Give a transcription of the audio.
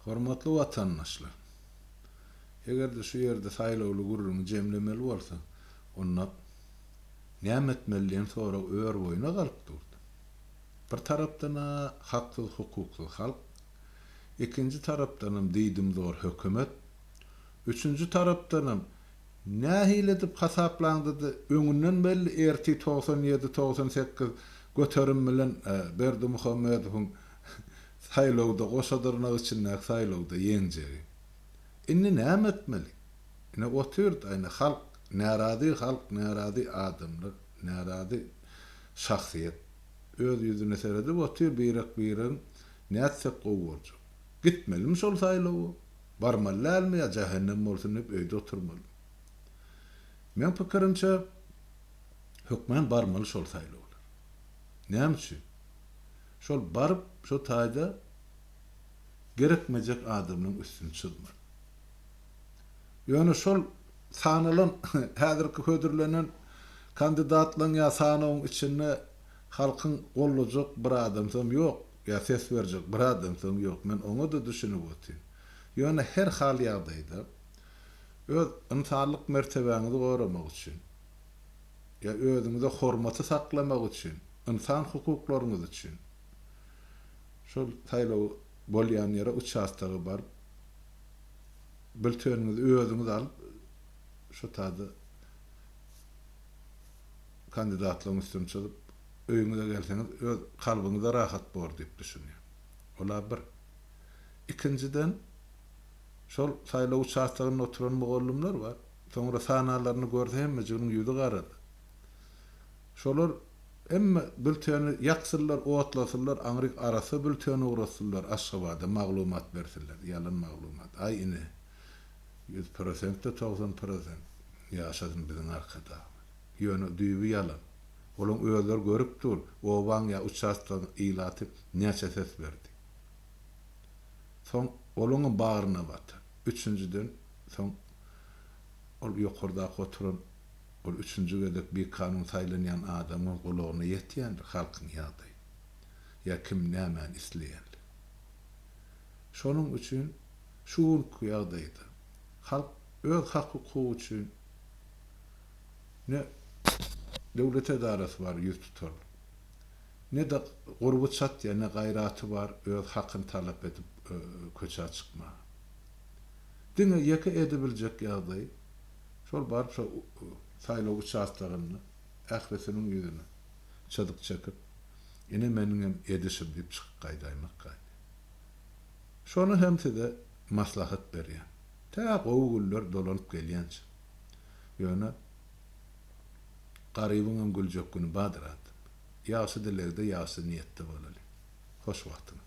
Hormatly watandaşlar! Eger-de şu ýerde saýlawly gürrüňi jemlemeli bolsa, onda näme etmeli diýen sorag örboýuna galyp durdy. Bir tarapdan-a haksyz-hukuksyz halk, ikinji tarapdanam diýdimzor hökümet, üçünji tarapdanam nähili edip hasaplaňda-da öňünden belli ertir togsan ýedi-togsan sekiz göterim bilen Berdimuhamedowyň Saýlawda goşa dyrnak içindäki saýlawda ýeňjegi. Indi näme etmeli? Ine otyrd aýna halk närazy halk närazy adamlar närazy şahsyýet öz ýüzüne seredip otyr birek biregiň nätsek gowy boljak? Gitmelimi şol saýlawa? Barmaly dälmi ýa jähennem bolsun diýip öýde oturmalymy? Meň pikirimçe hökman barmaly şol saýlawlar. Näme üçin? Şol baryp, şo taýda gerekmejek adamynyň üstüni çyzmaly. Ýöne şol sanalan, häzirki hödürlenen kandidatlaryň ýa sanawyň içinde halkyň gollajak bir adamsam ýok, ýa ses berjek bir adamsam ýok. Men oňa-da düşünip otyryn. Ýöne her hal ýagdaýda, öz ynsanlyk mertebäňizi goramak üçin, ýa özüňize hormaty saklamak üçin, Ynsan hukuklaryňyz üçin şol saýlaw bolýan ýere uçastoga baryp bilteniňizi özüňiz alyp şo taýda kandidatlygyň üstüni çyzyp öýüňize gelseňiz öz kalbyňyza rahat bor diýip düşünýän. Ola bir. Ikinjiden şol saýlaw uçastogynda oturan mugallymlar bar. Soňra sanalaryny görse hemmejiginiň ýüzi garady. Şolar hemme bülteni ýaksynlar, otlasynlar, aňry arassa bülteni ugratsynlar, Aşgabada maglumat bersinler, ýalan maglumat. Aý ine, ýüz prosent-de togsan prosent, ýaşasyn biziň Arkadagymyz. Ýöne düýbi ýalan. Olaň özleri görüp dur, obaň ýa uçastkaň ilaty näçe ses berdi. Soň olaňam bagryna batar. Üçünjiden, soň ol ýokardaky oturan Ol üçünji gezek bikanun saýlanýan adamyň gulagyna ýetýändir halkyň ýagdaýy. Ýa kim nämäni isleýändir. Şonuň üçin şu günki ýagdaýda halk öz hak-hukugy üçin ne döwlet edarasy bar ýüz tutarlyk, ne-de gurby çatýan, ne gaýraty bar öz hakyny talap edip köçä çykmaga. Diňe ýeke edebiljek ýagdaý, Şol barça saýlaw uçastogynda ählisiniň ýüzüne çyzyk çekip, Ine meniňem edişim diýip çykyp gaýdaýmak gaýdy. Şony hem size maslahat berýän. Tä gowy günler dolanyp gelýänçä. Ýöne Garybyňam güljek güni bardyr adam. Ýagşy dilegde, ýagşy niýetde bolalyň. Hoş wagtyňyz.